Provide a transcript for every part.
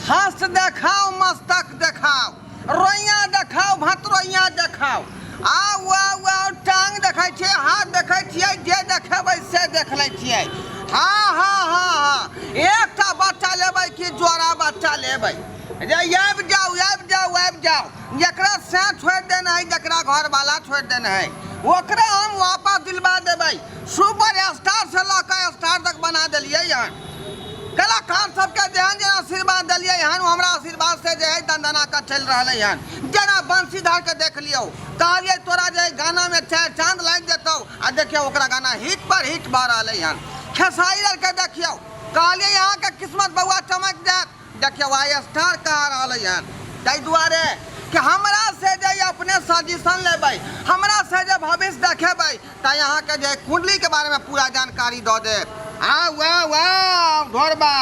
हस्त देखाओ मस्तक देखाओ रोइया देखाओ भतरोइया देखाओ आउ आउ आउ टांग देखै छियै हाथ देखै छियै जे देखेबै से देख लै छियै हाँ हाँ हाँ हाँ एकटा बच्चा लेबै कि जोड़ा बच्चा लेबै जे आबि जाउ आबि जाउ आबि जाउ जकरा साँझ छोड़ि देने हइ जकरा घरवाला छोड़ि देने हइ ओकरा हम वापस दिलवा देबै सुपर स्टार से लऽ कऽ स्टार तक बना देलियै हन कलाकार सबके जेहन जेहन आशीर्वाद देलियै हन हमरा आशीर्वाद से जे है दंदना के चलि रहले हन जेना बंशीधर के देख लियो कहलियै तोरा जे गाना में चार चांद लागि जेतौ आ देखियौ ओकरा गाना हिट पर हिट भऽ रहले हन खेसारी आर के देखियौ कहलियै यहाँ के किस्मत बउआ चमक जायत देखियौ आइ स्टार कहा रहलै हन ताहि दुआरे कि हमरा से जे अपने सजेशन लेबै हमरा से जे भविष्य देखेबै ताहि अहाँके जे कुंडली के बारे में पूरा जानकारी दऽ देब हाँ वाह वाह ढोरबा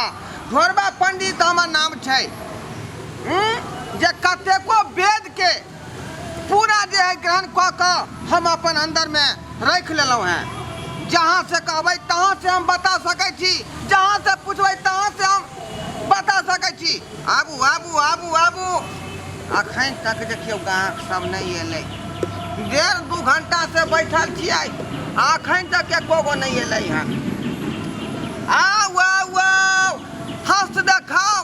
ढोरबा पंडित हमर नाम छै हम्म, जे कतेको वेद के पूरा जे है ग्रहण कऽ कऽ हम अपन अन्दरमे राखि लेलहुँ हैं जहाँ से कहबै तहाँ से हम बता सकै छी जहाँ से पूछबै तहाँ से हम बता सकै छी आबू आबू आबू आबू अखन तक देखियौ गाहक सब नहीं एल डेढ़ दू घंटा से बैठल छियै अखन तक एको गो नहीं एल हन आउ आउ आउ हस्त देखाओ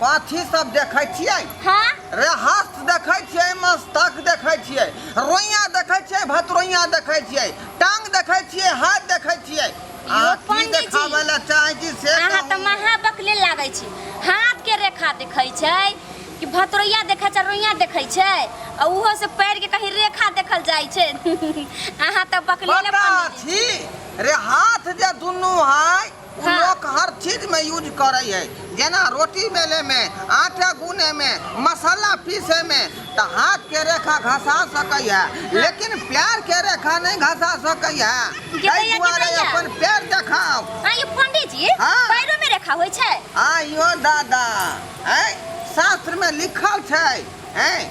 पाथी सब देखै छियै हाँ रे हस्त देखै छियै मस्तक देखै छियै रोइया देखै छियै भतरोइया देखै छियै टांग देखै छियै हाथ देखै छियै आ यो की पंडित जी देखाबै लए चाहै छी से अहाँ तऽ कहू। महा बकले लागै छी हाथ के रेखा देखै छै कि भतरोइया देखै छै रोइया देखै छै आ उहो से पैर के कहीं रेखा देखल जाइ छै अहाँ तऽ बकले ले पता पंडित जी छी रे हाथ जे दुनू है ऊ लोक हर चीज में यूज करऽ हइ, जेना रोटी बेले में, आटा गूने में, मसाला पीसे में। त हाथ के रेखा घसा सकऽ हे, लेकिन प्यार के रेखा नञ् घसा सकऽ हे। तइ दुआरे अपन पैर देखाव। आँ यौ पंडी जी, हाँ। पैरो में रेखा होइ छै? आँ यौ दादा, ऐं शास्त्र में लिखल छै, ऐं।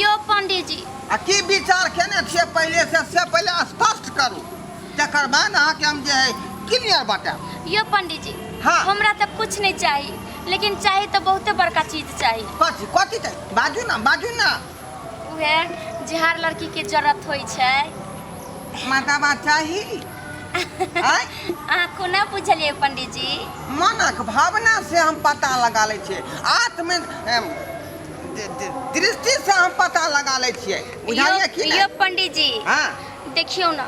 यो पंडीजी आ की विचार केने छियै पहिले से से पहिले स्पष्ट करू तकर बाद अहाँके हम जे है क्लियर बताएब यो पंडीजी हाँ। हमरा तो कुछ नहीं चाहिए लेकिन चाहिए तो बहुते बड़का चीज चाहिए कथी कथी छै बाजू ना बाजू ना उहे जे हर लड़की के जरूरत होई छै माताबा चाही आँय? अहाँ कोना बुझलिए पंडीजी मनक भावना से हम पता लगा लै छियै आत्म एम, दृष्टि से हम पता लगा लै छियै बुझलियै कि यौ पंडित जी हाँ देखियौ ना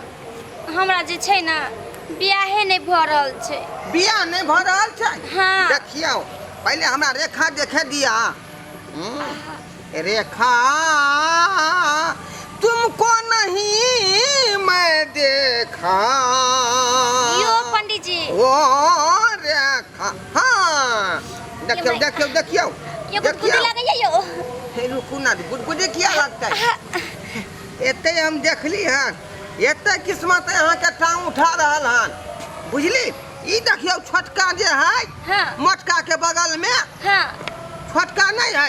हमरा जे छै ना बियाहे नै भ रहल छै बियाह नै भ रहल छै हाँ देखियौ पहिले हमरा रेखा देखे दिया हम्म, रेखा तुमको नहीं मैं देखा यौ पंडित जी ओ हाँ देखियो ये देखियो देखियो ये गुदगुदी लगे ये यो हे रुकू ना गुदगुदी किया लगता है एते हम देखली हन एते किस्मत यहाँ के टांग उठा रहल हन बुझली ई देखियो छोटका जे है हाँ। मोटका के बगल में हाँ छोटका नहीं है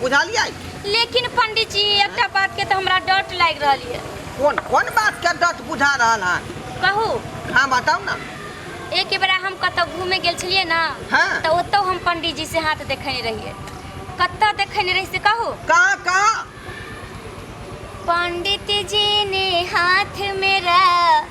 बुझलियै लेकिन पंडित जी एकटा बात के तो हमरा डट लाग रहल है कोन कोन बात के डट बुझा रहल है कहू हाँ बताओ ना एक बेरा हम कत घूमे गेल छलिए ना हाँ। तो ओतो हम पंडित जी से हाथ देखने रहिए कत देखने रही से कहू कहाँ कहाँ पंडित जी ने हाथ मेरा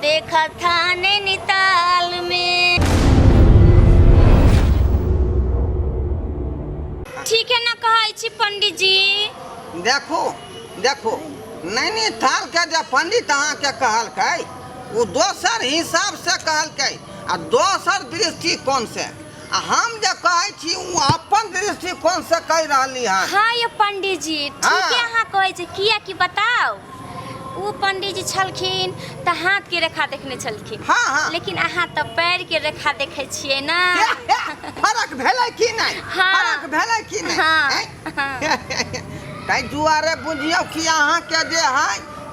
देखा था नैनीताल में ठीक है ना कहै छी पंडित जी देखो देखो नैनीताल के जे पंडित अहाँ के कहलकै ओ दोसर हिसाब से कहलकै आ दोसर दृष्टिकोण से हम जे कहै छी ओ अपन दृष्टिकोण से कह रहली हन हाँ ये पंडित जी ठीके हाँ। अहाँ कहै छी किया की बताओ ओ पंडित जी छलखिन तऽ हाथ के रेखा देखने छलखिन हाँ, हाँ। लेकिन अहाँ तऽ पैर के रेखा देखे छियै ना फरक भेलै कि नहीं हाँ। फरक भेलै कि नहीं हाँ। हैं? ताहि दुआरे बुझियौ कि अहाँके जे है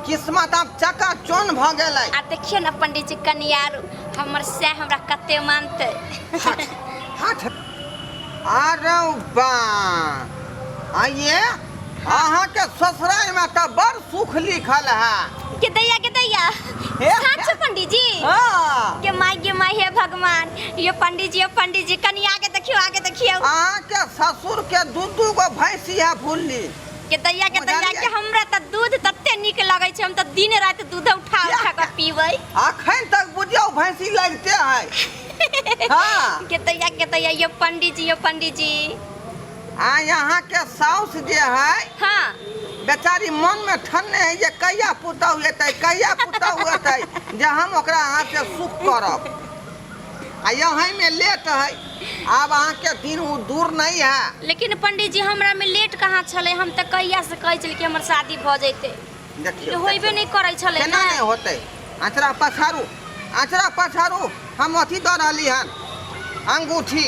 किस्मत आब चका चोन भऽ गेल है आ देखियो ने पंडित जी कनियार हमर से हमरा कते मानते हट हट अरे बा आइए अहाँके ससुरालमे तऽ बड़ सुख लिखल है के दैया के दैया हे? साँच छै पंडित जी हाँ। के माय के माय हे भगवान यो पंडित जी यो पंडित जी कनी आगे देखियो आगे देखियो अहाँ के ससुर के दू दू गो भैंसी है भूलली के दैया के दैया बुझलियै। के हमरा त दूध तते नीक लगै छै हम त दिन रात दूध उठा उठा के पीबै अखन तक बुझियौ भैंसी लगते है हाँ के दैया के दैया यो पंडित जी यो पंडित जी आ यहाँ के साउस जे है हाँ बेचारी मन में ठन्ने है जे कहिया पुतहु एतै कहिया पुतहु एतै जे हम ओकरा अहाँ से सुख करब आ यहीं में लेट है आब अहाँ के दिन उ दूर नहीं है लेकिन पंडित जी हमरा में लेट कहाँ छले हम तो कहिया से कहे छलिए कि हमर शादी भ जैते देखियो होइबे देखियो। नहीं करे छले केना ना नहीं होते अचरा पछारू अचरा पछारू हम अथी दऽ रहली हन अंगूठी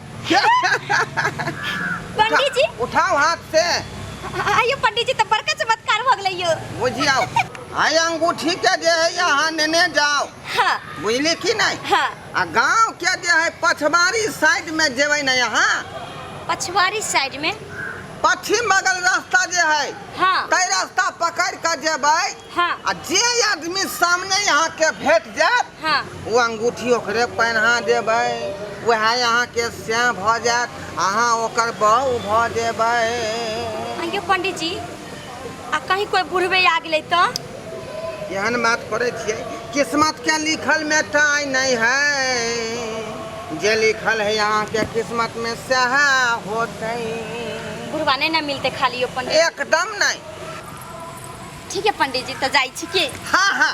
पंडित जी उठाओ हाथ से आयो पंडित जी तो बड़का चमत्कार हो गई यो बुझियाओ आय अंगूठी के जे है यहाँ नेने जाओ हाँ बुझली की नहीं हाँ आ गांव के जे है पछवारी साइड में जेबे न यहाँ पछवारी साइड में पश्चिम बगल रास्ता जे है हाँ तय रास्ता पकड़ के जेबे हाँ आ जे आदमी सामने यहाँ के भेट जात हाँ। ओ अंगूठी ओकरे पहना देबे वह यहाँ के श्याह भ जात अहा ओकर बहू भ जेबे अयो पंडित जी आ कहीं कोई बुढ़वे आ गए तो एहन बात करे छे किस्मत के लिखल में टाई नहीं है जे लिखल है यहाँ के किस्मत में सह होते बुढ़वा नहीं ना मिलते खाली पंडित एकदम नहीं ठीक है पंडित जी तो जाए छी के हाँ हाँ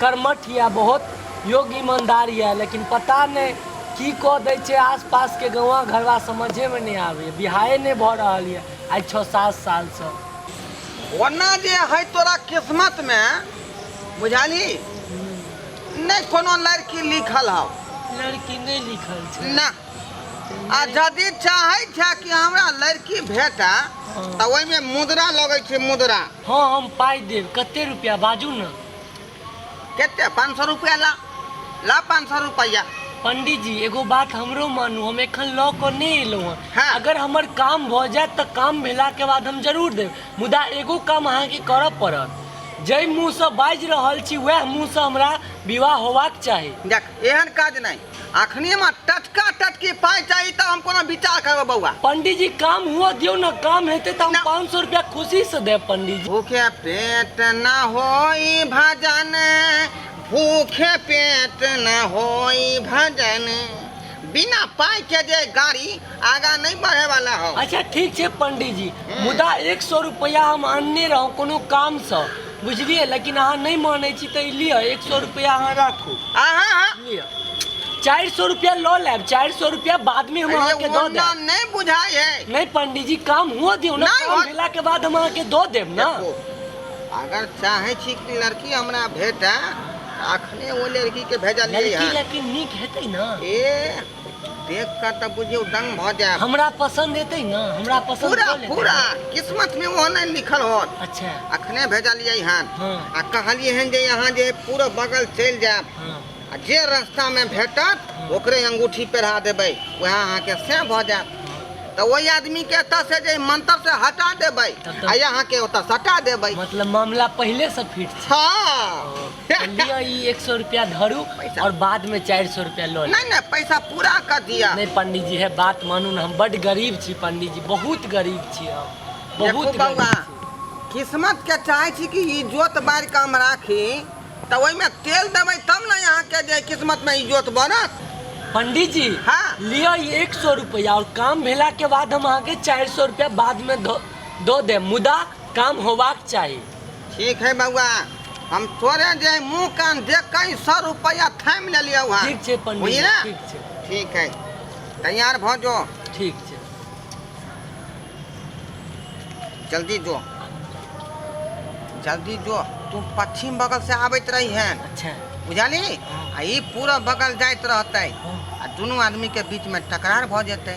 कर्मठ यऽ बहुत योग्य ईमानदार यऽ लेकिन पता नहि की कऽ दै छै आसपासके गाँवा घरवा समझेमे नहि आबैए बिहाए नहि भऽ रहल यऽ आइ छओ सात सालसँ ओना जे हइ तोरा किस्मतमे बुझाली नहि कोनो लड़की लिखल हौ लड़की नहि लिखल छै ना आ यदि चाहै छै कि हमरा लड़की भेटा तऽ ओहिमे मुद्रा लगै छै मुद्रा हँ हम पाइ देब कते रुपैआ बाजू ने कते पाँच सौ रुपया ला ला पाँच सौ रुपया पंडित जी एगो बात हमरो मानू हम एखन लऽ कऽ नहि एलहुँ हँ हाँ। अगर हमर काम भऽ जायत तऽ काम भेलाके बाद हम जरूर देब मुदा एगो काम अहाँके करऽ पड़त जाहि मुँहसँ बाजि रहल छी वएह मुँहसँ हमरा विवाह होबाक चाही देख एहन काज नहीं अखनी हमरा टटका टटकी पाई चाही तब हम कोनो विचार करबो बौआ पंडित जी काम हुआ दियो ना काम हेते तो हम ना। पाँच सौ रुपया खुशी से दे पंडित जी भूखे पेट न होई भजन भूखे पेट न होई भजन बिना पाई के जे गाड़ी आगा नहीं बढ़े वाला हो अच्छा ठीक छे पंडित जी मुदा एक सौ रुपया हम आनने रहो कोनो काम से बुझलियै लेकिन अहाँ नहि मानै छी तऽ ई लिअ एक सए रुपैआ अहाँ राखू अहाँ अहाँ- लिअ चारि सए रुपैआ लऽ लेब चारि सए रुपैआ बादमे हम अहाँके अरे दऽ ओना देब नहीं बुझाई है नहि पंडीजी काम हुअ दियौ ने नहि, काम हम- भेलाके बाद हम अहाँके दऽ देब ने देखो, अगर चाहे छी कि लड़की हमरा भेटा अखने वो लड़की के भेजलिए लड़की है लेकिन नीक हेतै ने ए देख कऽ तऽ बुझियौ दंग भऽ जायब हमरा पसंद एतै ने हमरा पसंद पूरा कऽ लेतै। पूरा किस्मत में ओहो नहीं लिखल होत अच्छा अखने भेजलियै हन हँ। आ कहलियै हन जे यहाँ जे पूरा बगल चलि जायब हाँ आ जे रास्ता में भेटत ओकरे अंगूठी पहिरा देबै वएह अहाँके से भऽ जायत तऽ ओहि आदमी के एतऽ से जे मंत्र से हटा देबै तब तऽ- आ यहाँ के ओतऽ सटा देबै मतलब मामला पहले से फिट छै हाँ तऽ लिअ ई एक सौ रुपया धरू पैसा। और बाद में चार सौ रुपया लो लेब। नहीं नहीं पैसा पूरा कर दिया नहीं पंडित जी है बात मानू ना हम बड गरीब छी पंडित जी बहुत गरीब छी हम देखू बहुत गरीब बौआ छी। किस्मत के चाहे छी कि ई जोत बार के हम राखी तऽ ओहिमे तेल देबै तब ने अहाँके जे किस्मत में ई जोत बनत पंडित जी हाँ। लिअ ई एक सौ रुपया और काम भेला के बाद हम अहाँके चार सौ रुपया बाद में दो दो देब मुदा काम होबाक चाही ठीक है बउआ हम तोरे जे मुंह कान देख के सौ रुपया थाम ले लिया वहाँ ठीक छै पंडित बुझलिए ना? ठीक छै ठीक है तैयार भ जो ठीक छै जल्दी जो जल्दी जो तू पश्चिम बगल से आबैत रही है अच्छा बुझली हाँ। आ ई पूरा बगल जाइत रहते हाँ। आ दुनू आदमी के बीच में टकरार भ जेतै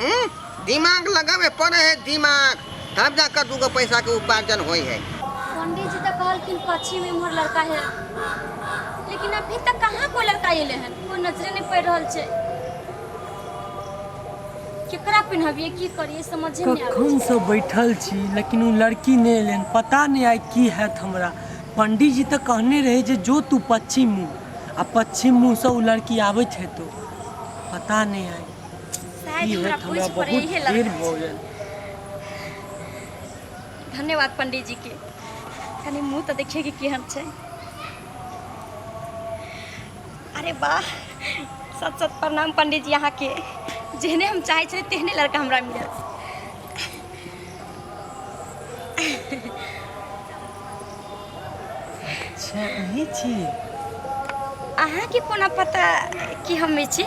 हम्म, दिमाग लगावे पड़े है दिमाग तब जाकर दूगो पैसा के उपार्जन होई है पंडित जी तो कहलखिन पश्चिम में मोर लड़का है लेकिन अभी तक कहाँ कोई लड़का अयले हन कोई नजरे नहीं पड़ रहल छै केकरा पिन्हबिए की करिए समझे नहीं आबै छै। कखन से बैठल छी लेकिन ओ लड़की नहि एलनि पता नहि आइ की हैत हमरा पंडीजी तऽ कहने रहै जे जो तू पश्चिम मुँह आ पश्चिम मुँहसँ ओ लड़की आबैत हेतौ पता नहि आइ शायद इहे हमरा तऽ पूछ हमरा पर बहुत इहे भीड़ लड़का भऽ छै गेल धन्यवाद पंडीजी के कनी मुंह तऽ देखिए कि केहन छै अरे वाह सत सत प्रणाम पंडीजी अहाँ के जेहने हम चाहै छलियै तेहने लड़का हमरा मिलल अच्छा अही छी अहाँके कोना पता कि हम छी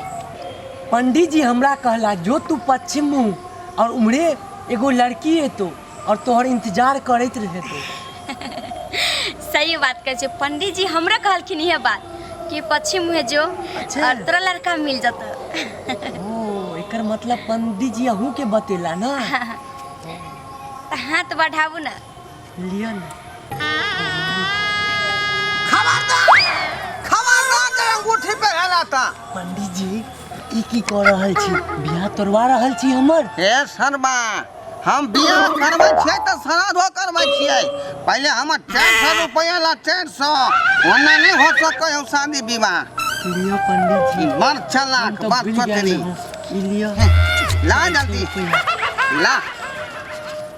पंडित जी हमरा कहला जो तू पश्चिम मुँह और उम्हरे एगो लड़की एतो और तोहर इंतजार करैत रहे तो सही बात कहै छै पंडित जी हमरा कहलखिन इहे बात कि पश्चिम मुँहे जो अच्छा। और तोरा लड़का मिल जतो ओ एकर मतलब पंडित जी अहूँ के बतेला ना तऽ हाथ बढ़ाबू ने लिया ना खबरदार खबरदार जे अंगूठी पे हेला ता पंडित जी ई की कऽ रहल छी बियाह तोड़वा रहल छी हमर हे शर्मा हम बियाह करबै छियै तऽ श्राद्धो करबै छियै पहिले हमर चारि सए रुपैआ ला चारि सए ओना नहि हो सकै हम शादी विवाह लिया पंडित जी ई बड़ चलाक हम बड़ तऽ भूल गेल चतरी रहौं। ई लिया ला जल्दी ला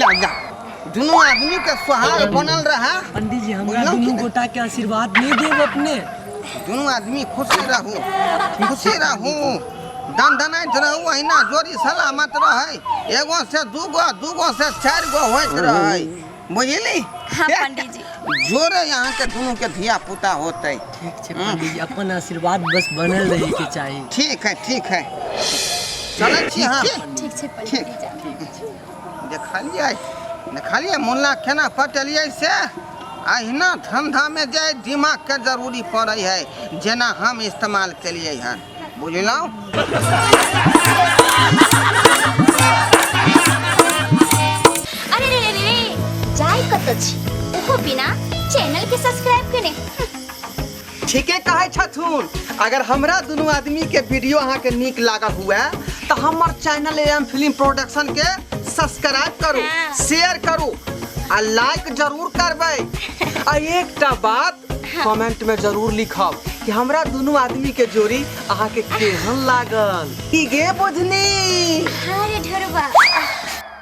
ला जा दुनू आदमी के सोहाग बनल रहा पंडित जी हमरा बुझलहुँ कि दुनू नहीं? गोटा के आशीर्वाद नहीं देब अपने दुनू आदमी खुशी रहू खुशी रहू दन दनाइत रहू अहिना जोड़ी सलामत रहै एगो से दूगो दूगो से चारि गो होइत रहै बुझली हाँ पंडित जी जोरे यहाँ के दोनों के धिया पुता होते ठीक छै पंडित जी अपन आशीर्वाद बस बनल रहे के चाही ठीक है ठीक है चले छी हम ठीक छै पंडित जी जान। देखलियै देखलियै मुल्ला केना पटेलियै से अहिना धंधामे जे दिमागके जरूरी पड़ै है जेना हम इस्तेमाल केलियै हन बुझलहुँ अरे रे रे रे जाय कत छी ओहो बिना चैनल के सब्सक्राइब केने ठीके कहै छथुन अगर हमरा दुनू आदमी के वीडियो अहाँके नीक लागल हुए तऽ हमर चैनल एम फिल्म प्रोडक्शन के सब्सक्राइब करू शेयर करू आ लाइक जरूर करबै आ एकटा बात कमेंट में जरूर लिखब कि हमरा दोनों आदमी के जोड़ी अहाँ के केहन लागल की गे बुझनी अरे ढोरबा